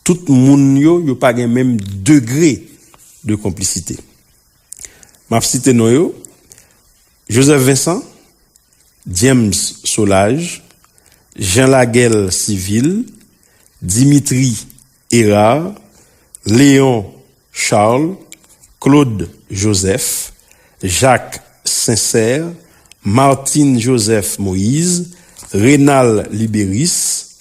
Tout moun yo, yo pa gen menm degre de konplisite. M ap site non yo, Joseph Vincent, James Solage, Jean Laguel Civil, Dimitri Herard, Léon Charles, Claude Joseph, Jacques Sincère, Martine Joseph Moïse, Renald Libérus,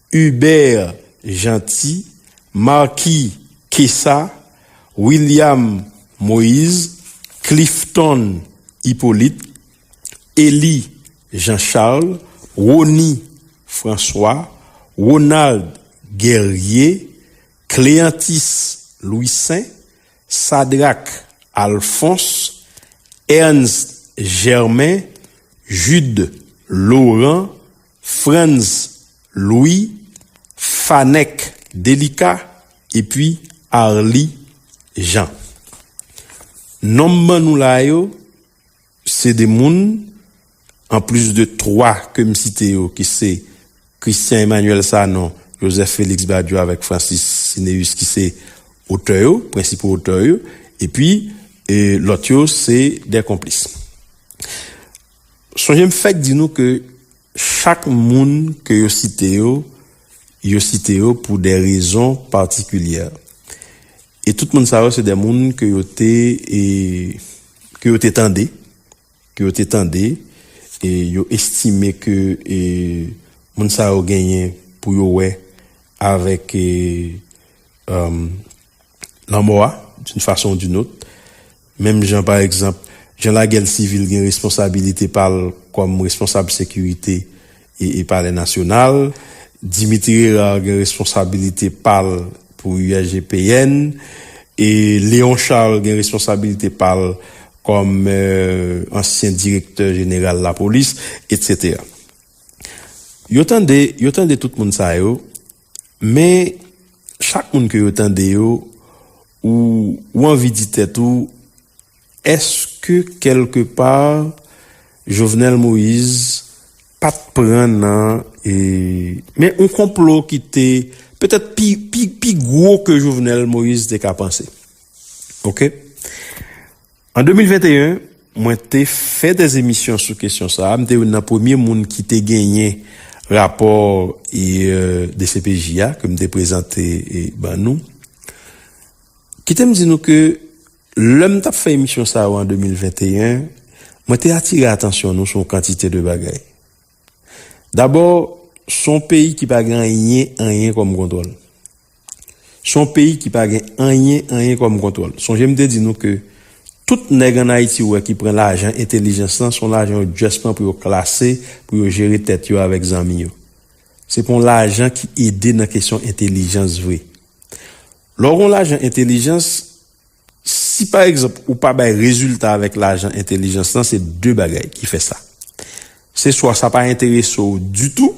Hubert Jeanty, Marky Kessa, William Moïse, Clifton Hyppolite, Elie Jean Charles, Rony François, Ronald Guerrier, Cléanthis Louissaint, Sadrac Alphonse, Ernst Germain, Jude Laurent, Frantz Louis, Fanèk Delika epi Arly Jean. Non m ban nou la yo, se 2 moun, an plis de 3 ke m site yo ki se Christian Emmanuel Sanon, Joseph Felix Badio avèk Francis Cinéus ki se otè yo, prensipo otè yo, epi lòt yo se 2 konplis. Sonje m fèk di nou ke chak moun ke yo site yo, yo site yo pou de rezon patikilyè. E tout moun sa yo se de moun ke yo te, ke yo te tande, ke yo te tande, e yo estime ke moun sa yo genyen pou yo wè avèk lanmò a, d'une façon ou d'une autre. Menm jan pa egzanp, jan lagèl sivil gen responsabilite pa l kòm responsab sekirite e palè nasyonal, Dimitri Herard gen responsabilite pa l pou USGPN e Léon Charles gen responsabilite pa l kòm ansyen direktè jeneral lapolis, etc. Yo tande, yo tande tout moun sa yo, Men, chak moun ke yo tande yo, ou, ou anvi di tèt ou, Eske kèlke pa, Jovenel Moïse pa t pran nan, e, men yon konplo ki te, petèt pi, pi, pi gwo ke Jovenel Moïse te ka panse? Ok. An 2021, mwen te fè de emisyon sou kesyon sa a. M te youn nan premye moun ki te genyen rapò dcpj a ke m te prezante ban nou. Kite m di nou ke lè m t ap fè emisyon sa yo an 2021, mwen te atire atansyon nou sou yon kantite de bagay. Dabò, s on peyi ki pa gen anyen, anyen kòm kontwòl. S on peyi ki pa gen anyen, anyen kòm kontwòl. Sonje m te di nou ke tout nèg an Ayiti ou wè ki pran lajan entelijans lan, s on lajan yo just pran pou yo klase, pou yo jere tèt yo avèk zanmi yo. Se pa on lajan ki ede nan kesyon entelijans vre. Lè w gen on lajan entelijans, Si pa egzanp ou pa bay rezilta avèk lajan entelijans lan se 2 bagay ki fè sa. Se swa sa pa enterese w ditou,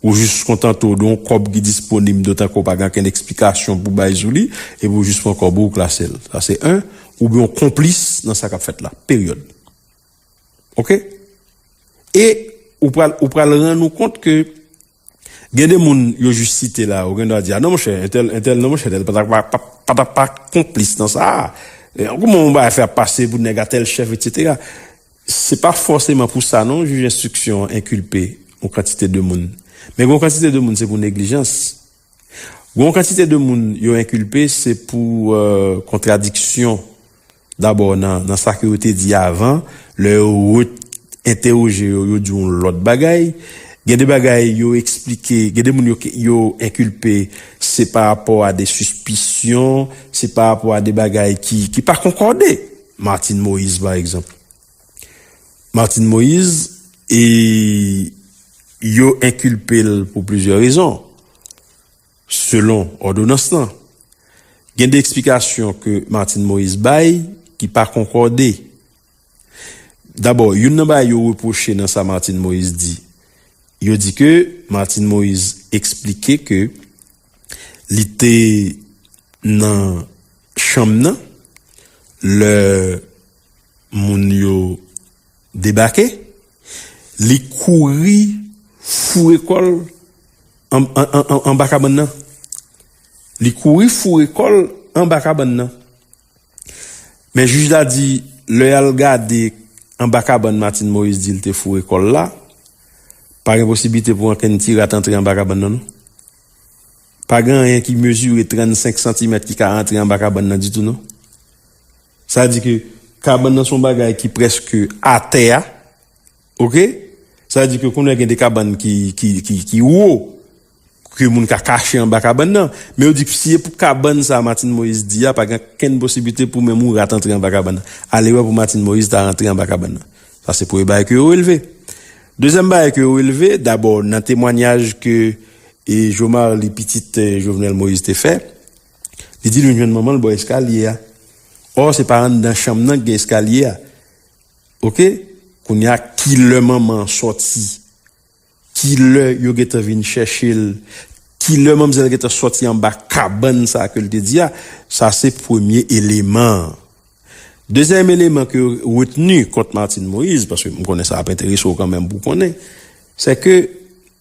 ou jis kontante w de yon kòb ki disponib dotan ke w pa gen okenn eksplikasyon pou bay sou li epi w jis pran kòb ou, w klase l. Sa se 1. Oubyen w konplis nan sa k ap fèt la. Peryòd. Ok. E ou pral ou pral rann ou kont ke. Gen de moun yo jis site la, ou gen dwa di, a non monchè, entèl, entèl, non monchè, entèl pa ta pa, pa ta pa konplis nan sa a. Kouman yon bagay fè ap pase pou nèg a tèl chèf, etsetera. Se pa fòseman pou sa non jij enstriksyon an enkilpe yon kantite de moun. Men gen yon kantite de moun se pou neglijans, Gen yon kantite de moun yo enkilpe se pou kontradiksyon dabò nan sa ke yo te di avan, lè yo re-entewoje yo, yo di yon lòt bagay. Gen de bagay yo eksplike, gen de moun yo enkilpe se pa rapò a de sispisyon, se pa rapò a de bagay ki pa konkòde. Martine Moïse pa egzanp. Martine Moïse e yo enkilpe l pou plizyè rezon, selon òdonans lan. Gen 2 eksplikasyon ke Martine Moïse bay ki pa konkòde. Dabò, youn nan bagay yo repwoche nan sa Martine Moïse di, yo di ke Martine Moïse eksplike ke li te nan chanm nan lè Moun yo debake, li kouri foure kò l anba kabann nan. Li kouri foure kò l anba kabann nan. Men jij la di lè y al gade anba kabann Martine Moïse di l te foure kò l la, pa gen posiblite pou ankenn ti rat antre anba kabann nan non. Pa gen anyen ki mezire 35 santimèt ki ka antre anba kabann nan ditou non. Sa di ke kabann nan se yon bagay ki prèske atè a. Ok? Sa di ke kounye a gen de kabann ki wo, ke moun ka kache anba kabann nan. Men yo di ke si e pou kabann sa Martine Moïse di a, pa gen okenn posiblite pou menm yon rat antre anba kabann nan. Alewè pou Martine Moïse ta rantre anba kabann nan. Sa se premye bagay ke yo releve. Dezyèm bagay ke yo releve, dabò nan temwanyaj ke Jomarly pitit Jovenel Moïse te fè, Li di l vin jwenn manman l bò eskalye a. Ò se pa anndan chanm nan ki gen eskalye a. Ok, kounye a ki lè manman an sòti? Ki lè yo gen tan vin chèche l? Ki lè manmzèl gen tan sòti anba kabann sa a ke l te di a? Sa se premye eleman an. Dezyèm eleman ke yo retni kont Martine Moïse, paske m konnen sa ap enterese w kanmenm pou w konnen, sèke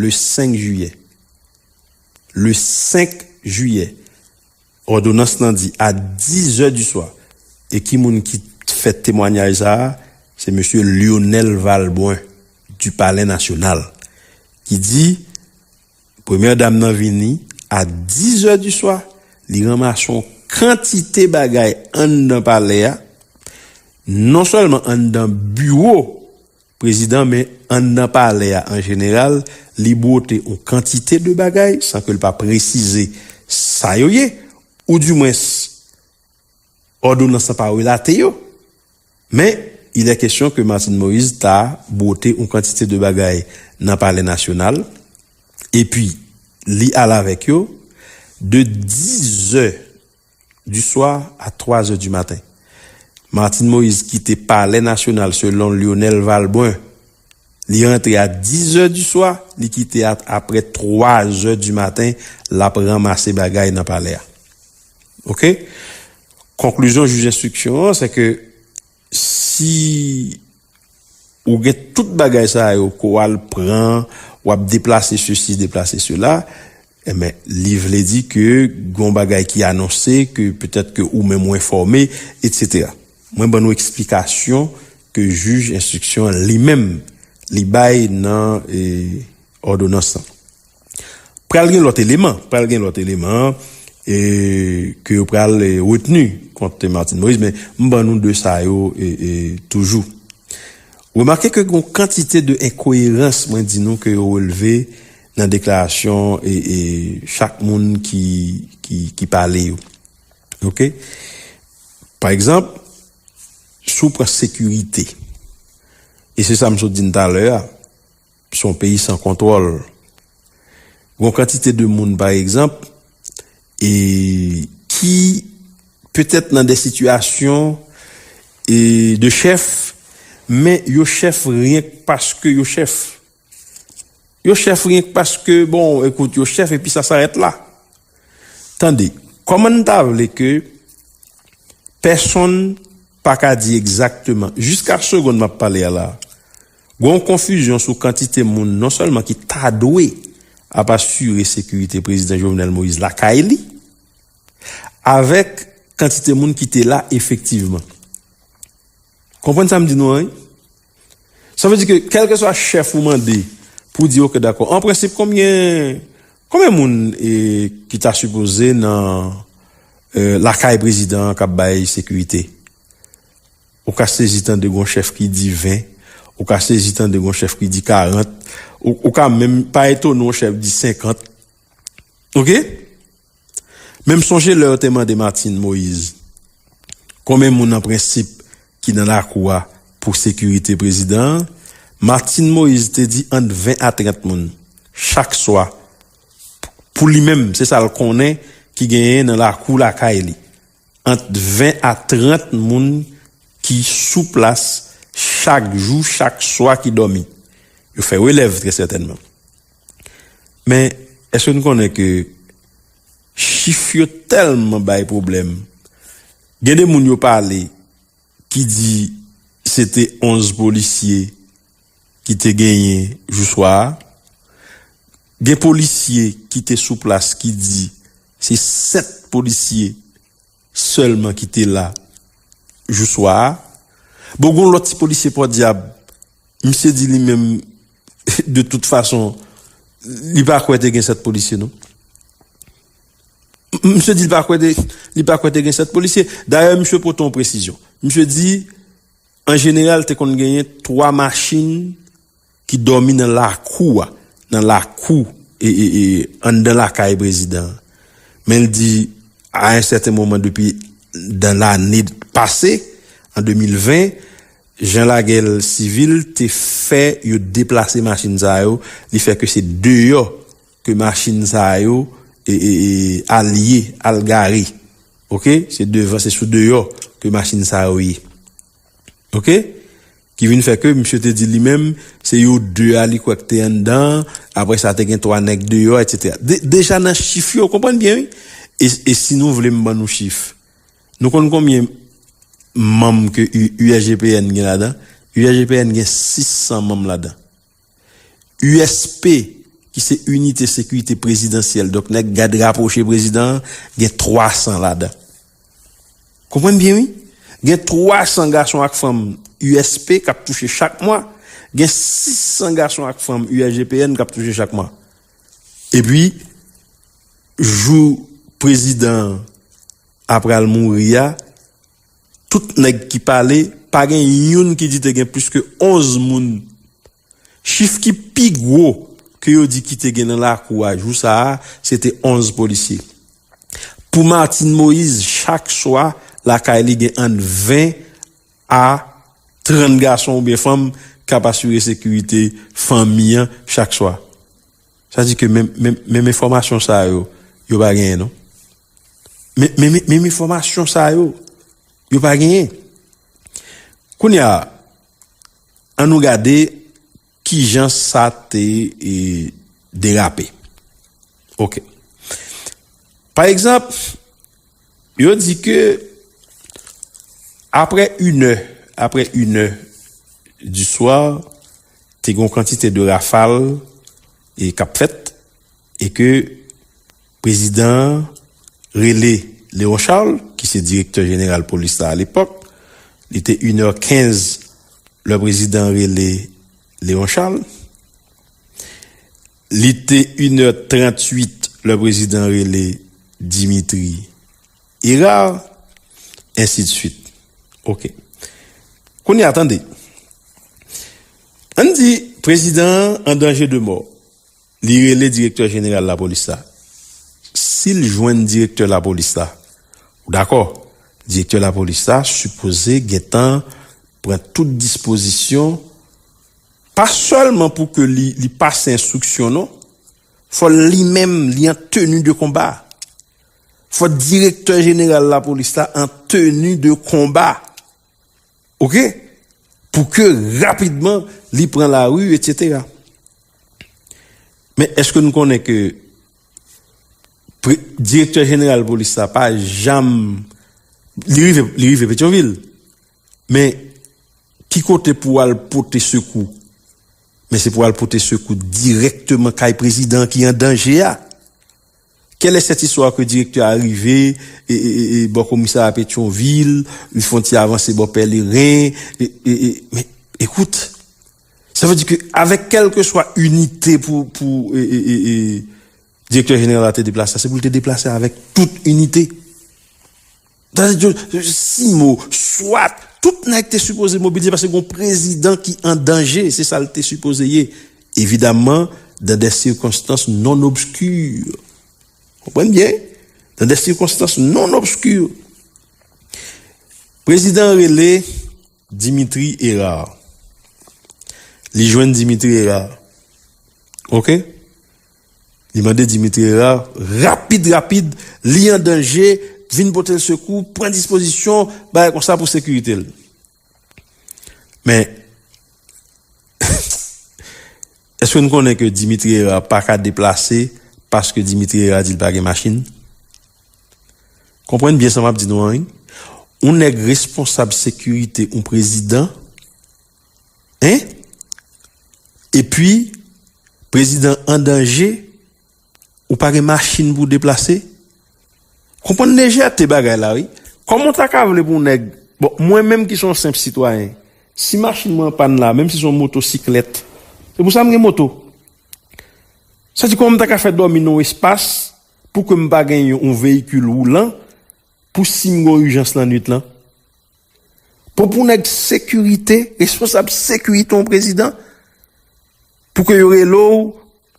le 5 jiyè. Le 5 jiyè, òdonans lan di a dizè di swa. E ki moun ki fè temwanyaj sa a? Se mesye Lyonel Valbrun, du Palè Nasyonal, ki di premyè dam nan vini a dizè di swa, li ranmase yon kantite bagay anndan palè a, non sèlman anndan biwo. Prezidan men andan palè a an jeneral li bwote on kantite de bagay san ke l pa presize sa yo ye ou di mwens òdonans lan pa relate yo men il è kesyon ke Martine Moïse ta bwote on kantite de bagay nan palè nasyonal epi li al avèk yo de dizè du soir a 3 zè du maten. Martine Moïse kite palè nasyonal selon Lyonel Valbrun li rantre a 10 zè du swa li kite a aprè 3 zè du maten lap ranmase bagay nan palè a ok konklizyon jij enstriksyon an sè ke Si ou gen tout bagay sa yo ke w al pran, w ap deplase sesi, deplase sela, enben li vle di ke gen yon bagay ki anonse ke petèt ke ou menm ou enfòme, etsetera. Mwen ban nou eksplikasyon ke jij enstriksyon an li menm li bay nan òdonans lan. Pral gen lòt eleman, pral gen lòt eleman ke yo pral retni kont Martine Moïse men m ban nou 2 sa yo toujou. Remake ke gon kantite de enkoyerans mwen di nou ke yo releve nan deklarasyon chak moun ki pale yo. Ok. Pa egzanp, si w pran sekirite e se sa m sot di n talè a, Se yon peyi san kontwòl. Gen yon kantite de moun pa egzanp e ki petèt nan de sitiyasyon e de chèf men yo chèf ryenk paske yo chèf. Yo chèf ryenk paske bon ekout yo chèf epi sa sarèt la. Tande, kòman n ta vle ke pèsonn pa ka di egzakteman jiska segond m ap pale a la. Gon konfizyon sou kantite moun non sèlman ki ta dwe ap asire sekirite Prezidan Jovenel Moïse lakay li, avèk kantite moun ki te la efektivman. Konprann sa m di nou an wi. Sa vle di ke kèlkeswa chèf ou mande pou w di ok dakò, an prensip konbyen konbyen moun ki ta sipoze nan lakay Prezidan an k ap bay sekirite? Ou ka sezi tande gon chèf ki di 20, ou ka sezi tande gon chèf ki di 40, ou ka menm pa etone yon chèf di 50. Ok? Men m sonje lè yo te mande Martine Moise konbyen moun an prensip ki nan lakou a pou sekirite prezidan an, Martine Moise te di ant 20 a 30 moun chak swa pou li menm se sa l konnen ki genyen nan lakou lakay li. ant 20 a 30 moun ki sou plas chak jou, chak swa ki dòmi. Yo fè relèv trè sètènman. Men, èske nou konnen ke chif yo tèlman bay pwoblèm, gen de moun yo pale ki di se te 11 polisye ki te genyen jou swa a. Gen polisye ki te sou plas ki di se 7 polisye sèlman ki te la jou swa a. Bon gen yon lòt ti polisye Pòdyab, misye di li menm de tout fason li pa kwè te gen 7 polisye non. Misye di li pa kwè li pa kwè te gen 7 polisye. Dayè misye pote yon presizyon. Misye di an jeneral te konn genyen 3 machin ki dòmi nan lakou a, nan lakou anndan lakay prezidan an. Men li di a yon sèten moman depi dan lane pase an 2020, jan lagel sivil te fè yo deplase machin sa yo, li fè ke se deyò ke machin sa yo al ye al gare ok se devan se sou deyò ke machin sa yo ye ok ki vin fè ke misye te di li menm se yo 2 a li kwè ki te anndan an apre sa te gen 3 nèg deyò etc deja nan chif yo konprann byen wi e si nou vle m ban nou chif nou konn konbyen manm ke URGPN gen ladan URGPN gen 600 manm ladan. USP ki se Inite Sekirite Prezidansyèl, donk nèg gad rapwoche prezidan an, gen 300 ladan. Konprann byen wi. Gen 300 gason ak fanm USP k ap touche chak mwa, gen 600 gason ak fanm USGPN k ap touche chak mwa. Epi, jou prezidan an ap pral mouri a, Tout nèg ki pale, pa gen youn ki di te gen plis ke 11 moun. Chif ki pi gwo ke yo di ki te gen nan lakou a jou sa a, se te 11 polisye. Pou Martine Moïse, chak swa, lakay li gen ant 20 a 30 gason oubyen fanm k ap asire sekirite fanmi an chak swa. Sa di ke menm enfòmasyon sa yo, yo pa genyen non. Menm enfòmasyon sa yo, yo pa genyen. Kounye a, an nou gade ki jan sa te derape. Ok. Pa egzanp, Yo di ke apre inè, apre inè di swa, te gen yon kantite de rafal e k ap fèt e ke prezidan an rele Léon Charles ki se direktè jeneral polis la alepòk, li te inè kenz lè prezidan an rele Léon Charles. Li te in è 38 lè prezidan rele Dimitri Herard, ensi de swit. Ok. Kounye a tande. Ann di prezidan an an danje de mò. Li rele direktè jeneral lapolis la. Si l jwenn direktè lapolis la, ou dakò, direktè lapolis la sipoze gen tan pran tout dispozisyon Pa sèlman pou ke li pase enstriksyon non, fò li menm li an teni de konba. Fò direktè jeneral lapolis la an teni de konba. Ok. Pou ke rapidman li pran lari etc. Men eske nou konnen ke direktè jeneral polis la pa janm li rive petyonvil Men, ki kote pou w al pote sekou? Men se pou w al pote sekou dirèkteman kay prezidan an ki an danje a. Kèlè sèt istwa ke direktè a rive bò komisarya Petyonvil, li fon ti avanse bò Pèleren, men, ekout, sa vle di ke avèk kèlkeswa inite pou direktè jeneral la te deplase, se pou l te deplase avèk tout inite. Tande Dieu, Simo, swat, tout nèg te sipoze mobilize paske gon prezidan ki an danje, se sa l te sipoze ye, evidaman dan dè sikonstans non obskur. Konprann byen, dan dè sikonstans non obskur. Prezidan an rele. Dimitri Herard Li jwenn Dimitri Herard Ok Li mande Dimitri Herard rapid rapid Li an danje Vin pote l sekou Pran dispozisyon Bagay konsa pou sekirite l Men Eehh Eske nou konnen ke Dimitri Herard pa ka deplase paske Dimitri Herard di li pa gen machin? Konprann byen sa map di nou an wi. Yon nèg responsab sekirite yon prezidan hein epi prezidan an danje. Ou pa gen machin pou w deplase? Konprann lejète bagay la wi. Kòman w ta ka vle pou nèg, bon mwen menm ki se yon senp sitwayen, si machin mwen anpàn la, menm si se yon motosiklèt, se pou sa m gen moto. Sa di kòman m ta ka fè dòmi nan yon espas pou ke m pa gen yon veyikil woulan pou si m gen yon ijans lannwit lan? Bon pou nèg sekirite, responsab sekirite yon prezidan? Pou ke yo rele w,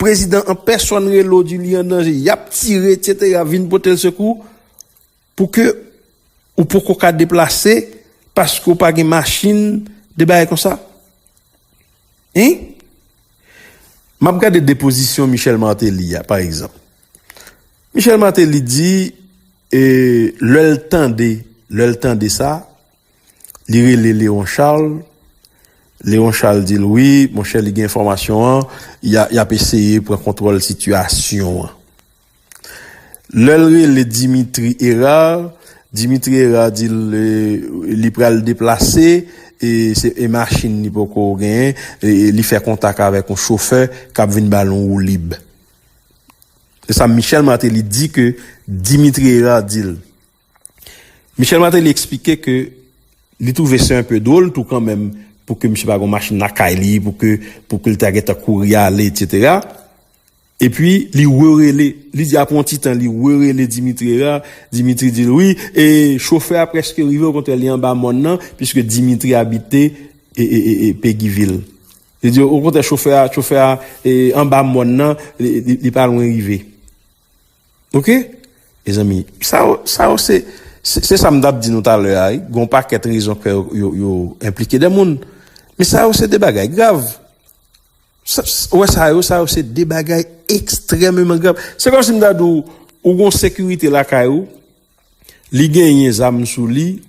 prezidan an pèsòn rele w di li an danje, y ap tire etc. Vin pote l sekou pou ke ou poko ka deplase paske ou pa gen machin, de bagay konsa. Hein? M ap gade depozisyon Michel Martelly a, pa egzanp. Michel Martelly di, e lè l tande, lè l tande sa, Li rele Leon Charles, Leon Charles di l wi monchè li gen enfòmasyon an, y ap eseye pran kontwòl sitiyasyon an. Lè l rele Dimitri Herard, Dimitri Herard di l li pral deplase e machin li poko genyen, li fè kontak avèk yon chofè k ap vin ba l yon woulib. Se sa Michel Martelly di ke Dimitri Herard di l. Michel Martelly eksplike ke li twouve se enpe dwol tou kanmenm pou ke misye pa gon machin lakay li, pou ke pou ke li ta gentan kouri ale etc. E pi li rerele, li di apre yon ti tan li rerele Dimitri Herard, Dimitri di l wi e chofè a preske rive okontrè li anba mòn nan piske Dimitri abite e Pegi vil. Li di okontrè chofè a chofè a anba mòn nan li pa lwen rive. Ok mezanmi sa yo sa yo se se sa m tap di nou talè a wi gon pakèt rezon k fè yo yo enplike de moun men sa yo se de bagay grav ou wè sa yo sa yo se de bagay ekstrèmeman grav se kòm si m ta di w ou gon sekirite lakay ou li genyen zam sou li.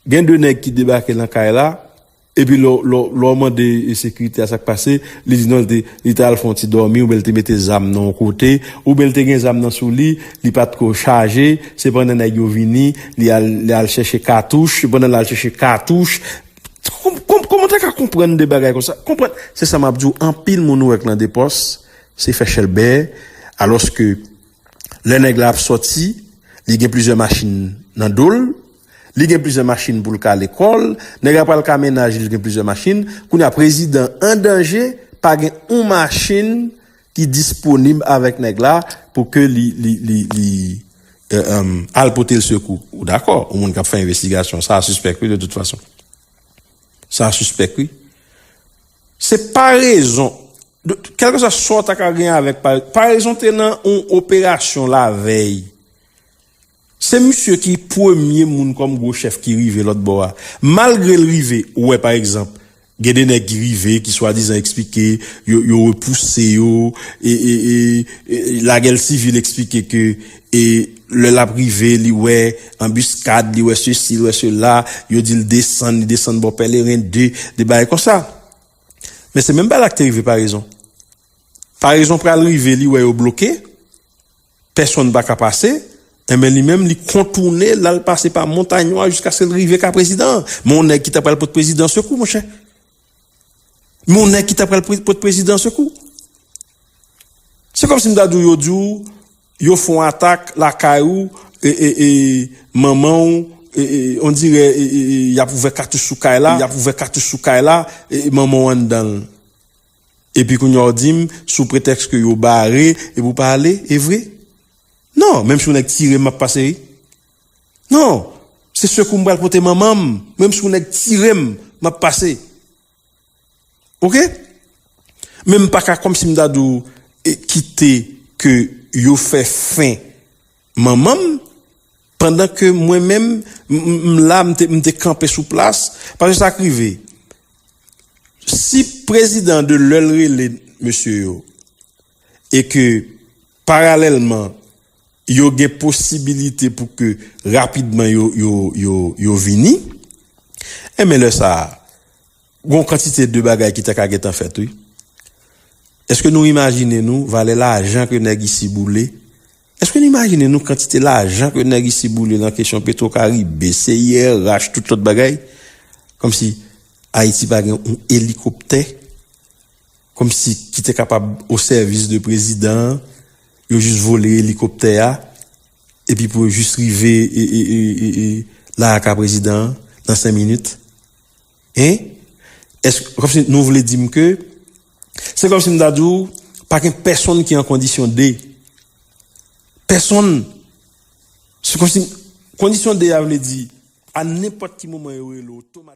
Gen 2 nèg ki debake lan kay la, epi lè w mande sekirite a sa k pase, li di non li te al fè yon ti dòmi oubyen li te mete zam nan yon kote, oubyen li te gen zam nan sou li, li pa t ko chaje, se pandan nèg yo vini, li al chèche katouch, se pandan l al chèche katouch, kòman w ta ka konprann 2 bagay konsa, konprann, se sa m ap di w, anpil moun ou wè k lan depòs, se fè chèlbè, alòske lè nèg la ap sòti, li gen plizyè machin nan do l, Li gen plizyè machin poul ka lekòl, nèg la pral ka mennaj li li gen plizyè machin, kounye a prezidan an danje pa gen yon machin ki disponib avèk nèg la pou ke li al potel sekou. Ou dakò, yon moun kap fè envestigasyon, sa sispèk wi de tout fason. Sa sispèk wi. Se parezon, kèlke swa sa w ta ka gen avèk parezon te nan yon operasyon lavèy. Se misye ki premye moun kòm gwo chèf ki rive lòt bò a. Malgre l rive wè pa egzanp, gen de nèg ki rive ki swadizan eksplike yo yo repouse yo e e e lagè l sivil eksplike ke e lè l ap rive li wè anbiskad, li wè sesi, li wè sela, yo di l desann, li desann bò Pèleren 2, de bagay konsa. Men se menm bagay la ki te rive Parezon. Parezon pral rive li wè yo bloke. Pèsonn pa ka pase, enben li menm li kontoune l al pase pa montay nwa jiskaske l rive ka prezidan an. Men yon nèg ki ta pral pot prezidan an sekou monchè. Men yon nèg ki ta pral pot prezidan an sekou. Se kòm si m ta di w yo di w yo fè yon atak lakay ou e manman w on dirè y ap ouvè katouch sou kay la, y ap ouvè katouch sou kay la e manman w anndan l. Epi kounye a w di m sou pretèks ke yo bare epi w pa ale, e vre? Non, menm si yon nèg tire m m ap pase wi. Non, se sekou m pral pote manman m, menm si yon nèg tire m m ap pase. Ok? Men m pa ka kòmsi m ta di w kite ke yo fè fen. Manman m, pandan ke mwen menm m la, m te kanpe sou plas, paske sa k rive, si prezidan de lè l rele mesye yo, e ke paralèlman yo gen posibilite pou ke rapidman yo vini, enben lè sa a, gon kantite de bagay ki ta ka gen tan fèt wi. Eske nou imajine nou valè lajan ke nèg isi boule Eske nou imajine nou kantite lajan ke nèg isi boule lan kesyon petro karibe, CIRH, tout lòt bagay? Kòmsi Ayiti pa gen yon elikoptè? Kòmsi ki te kapab o sèvis de prezidan an, yo jis vole elikoptè a, epi pou yo jis rive la aka prezidan an nan 5 minit? Hein? Eske, kòm si nou vle di m ke, se kòm si m ta di w, pa gen pèsonn ki an kondisyon de. Pèsonn! Se kòm si, kondisyon de a vle di, a nenpòt ki moman yo rele w otomatikman.